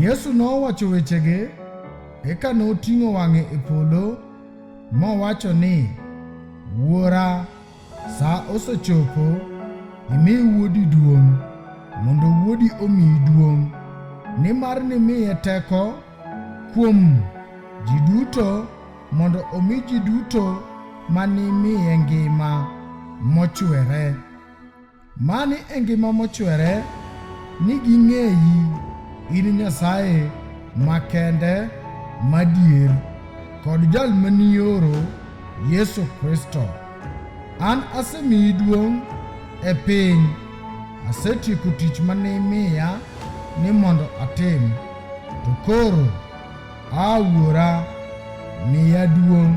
Yesu nowacho wechege, eka noting'o wang'e e polo mowacho ni, Wuora, sa osechopo, imi wuodi duong', mondo wuodi omiyi duong', nimar nimiye teko kuom ji duto mondo omi ji duto ma nimiye ngima mochwere. Mani e ngima mochwere ni ging'eyi in Nyasaye makende madier kod jal manioro Yesu Kristo. An asemiyi duong' e piny, asetieko tich mane imiya ni mondo atim, to koro a Wuora miya duong'.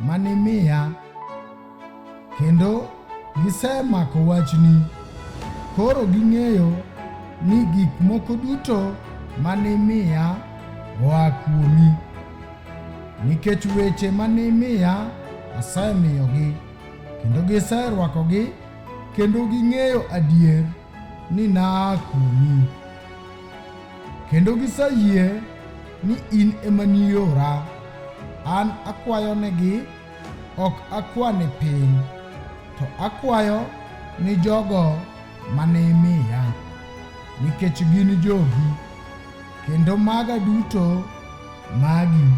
mane imiya, kendo gisemako wachni. Koro ging'eyo ni gik moko duto mane imiya oa kuomi, nikech weche mane imiya asemiyogi, kendo giserwakogi, kendo ging'eyo adier ni naa kuomi, kendo giseyie ni in ema niora. An akwayo negi, ok akwa ni piny, to akwayo ni jogo mane imiya, nikech gin jogi, kendo maga duto magi,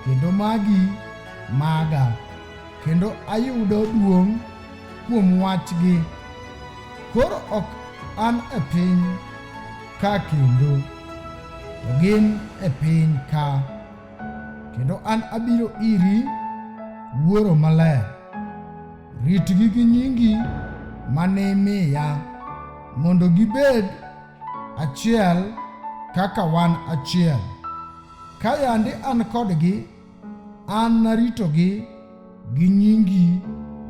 kendo magi maga. kendo ayudo duong' kuom wachgi. Koro ok an e piny ka kendo, to gin e piny ka, kendo an abiro iri, Wuoro Maler. Ritgi gi nyingi ma nimiya, mondo gibed achiel kaka wan achiel. Ka yande an kodgi, An naritogi gi nyingi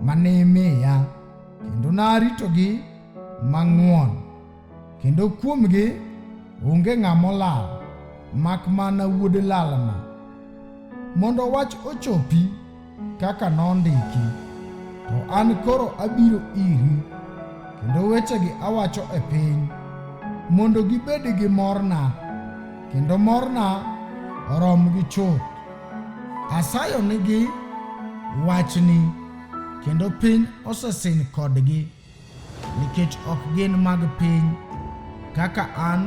ma ne imiya, kendo naritogi mang'won, kendo kuomgi onge ng'ama olal, mak mana wuod lalno, mondo wach ochopi kaka nondiki. To an koro abiro iri, kendo wechegi awacho e piny, mondo gibed gi morna. kendo morna orom gi chuth. Asayo nigi wachni, kendo piny osesin kodgi, nikech ok gin mag piny, kaka an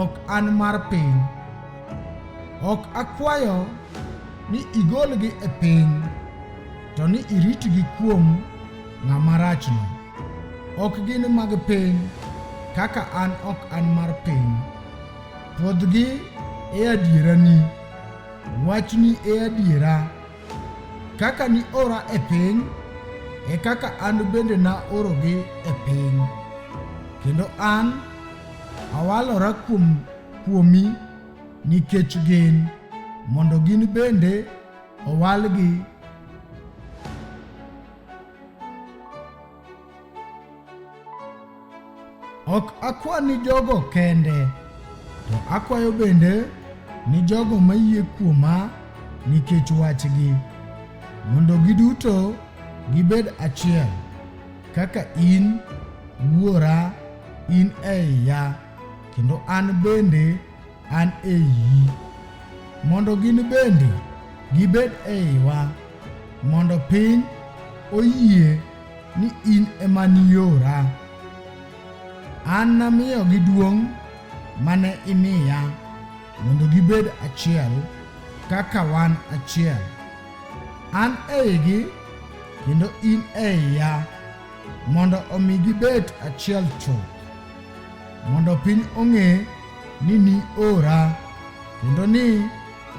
ok an mar piny. Ok akwayo ni igolgi e piny, to ni iritgi kuom ng'ama rachno. Ok gin mag piny, kaka an ok an mar piny. Pwodhgi e adierani. Wachni e adiera. Kaka ni ora e piny, e kaka an bende na orogi e piny. Kendo an awalora kuom kuomi nikech gin, mondo gin bende owalgi Ok akwa ni jogo kende, to akwayo bende ni jogo mayie kuoma nikech wachgi, mondo giduto gibed achiel, kaka in Wuora in e iya, kendo an bende an e iyi, mondo gin bende gibed e iwa, mondo piny oyie ni in ema niora. An namiyogi duong' mane imiya, mondo gibed achiel kaka wan achiel. An eigi kendo in e iya, mondo omi gibed achiel chuth. mondo piny ong'e ni ni ora kendo ni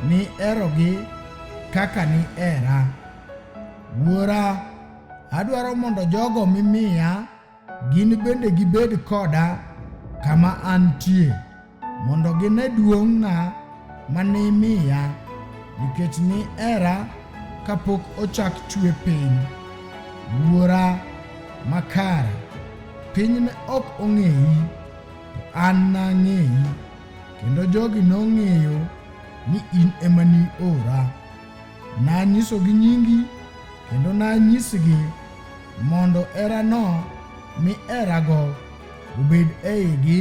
ni erogi kaka ni era. Wuora, adwaro mondo jogo mimiya gin bende gibed koda kama antie. Mondo gine duong'na ma nimiya, nikech ni era kapok ochak chwe piny. Wuora makare, piny ne ok ong'eyi, to an nang'eyi, kendo jogi nong'eyo ni in ema ni ora. Nanyisogi nyingi, kendo nanyisgi mondo erano mi erago obed eigi